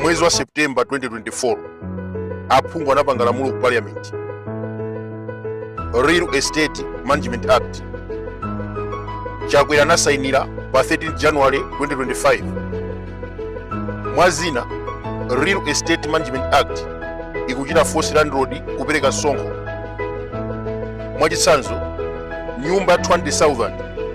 mwezi wa september 2024 aphungu anapanga lamulo ku parliament real estate management act chakwera anasainira pa 13 january 2025 mwa zina real estate management act ikuchita force landlord kupereka sonkho mwachitsanzo nyumba 20000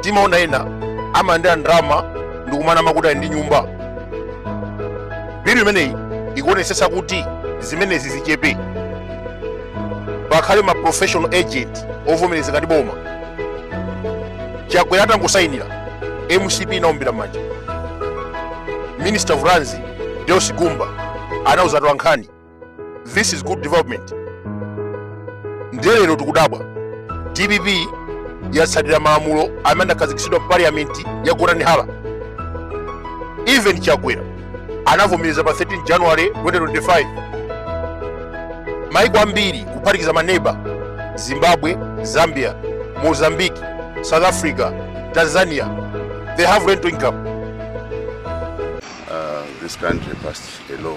timaona ena amalandira ndalama ndikumana amakuti ndi nyumba bilu imeneyi ikuonetsetsa kuti zimenezi zichepe pakhale ma professional agent ovomerezeka ndi boma chakwera atangosayinira mcp inaombera m'manja minister of lands deus gumba anauza atolankhani this is good development ndiye lero tikudabwa dpp yatsatira malamulo amene anakhazikitsidwa mu parliament ya gotani hara even chakwera anavomereza pa 13 january 2025 maiko ambiri kuphatikiza maneba zimbabwe zambia mozambique south africa tanzania they have rental income this country passed a law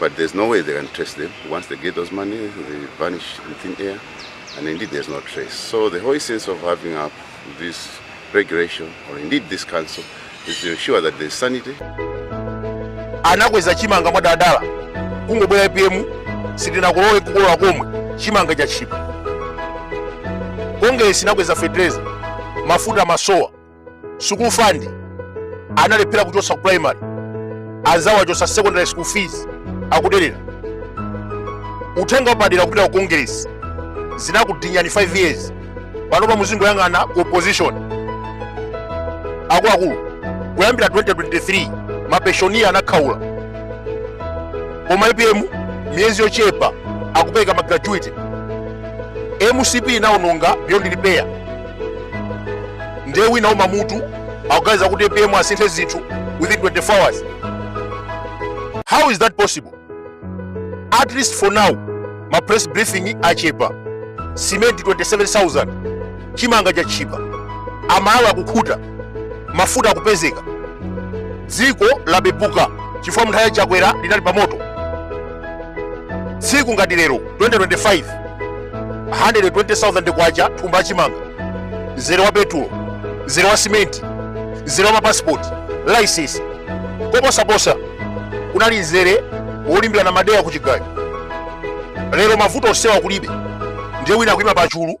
but there's no way they can trace them. Once they get those money, they vanish in thin air, and indeed there's no trace. So the whole essence of having up this regulation, or indeed this council, is to ensure that there's sanity. anakweza chimanga mwadadala kungobwera apm sitinakulowe kukolola komwe chimanga cha chipa kongesi inakweza fetereza mafuta masowa school fund analephera kuchotsa ku primary anzawo achotsa secondary school fees akuderera uthenga wapadera kupita ku kongeresi zinakudinyani 5 years panopa muzingoyang'ana ku opposition akuluakulu kuyambira 2023 mapenshoniya anakhaula koma apm miyezi yochepa akupereka ma gratuity mcp inawononga beyond repair ndiye wina wouma mutu akuganiza kuti apm asinthe zinthu within 24 hours how is that possible at least for now ma press briefing achepa simenti 27000 chimanga chatchipa amalawi akukhuta mafuta akupezeka dziko lapepuka chifukwa mnthawi ya chakwera linali pamoto tsiku ngati lero 2025 120,000 kwacha thumba la chimanga mzere wa petulo mzere wa simenti mzere wa mapasipoti laisensi koposaposa kunali mzere wolimbirana madeya ku chigayo lero mavuto onsewa kulibe ndiye wina akuima pachulu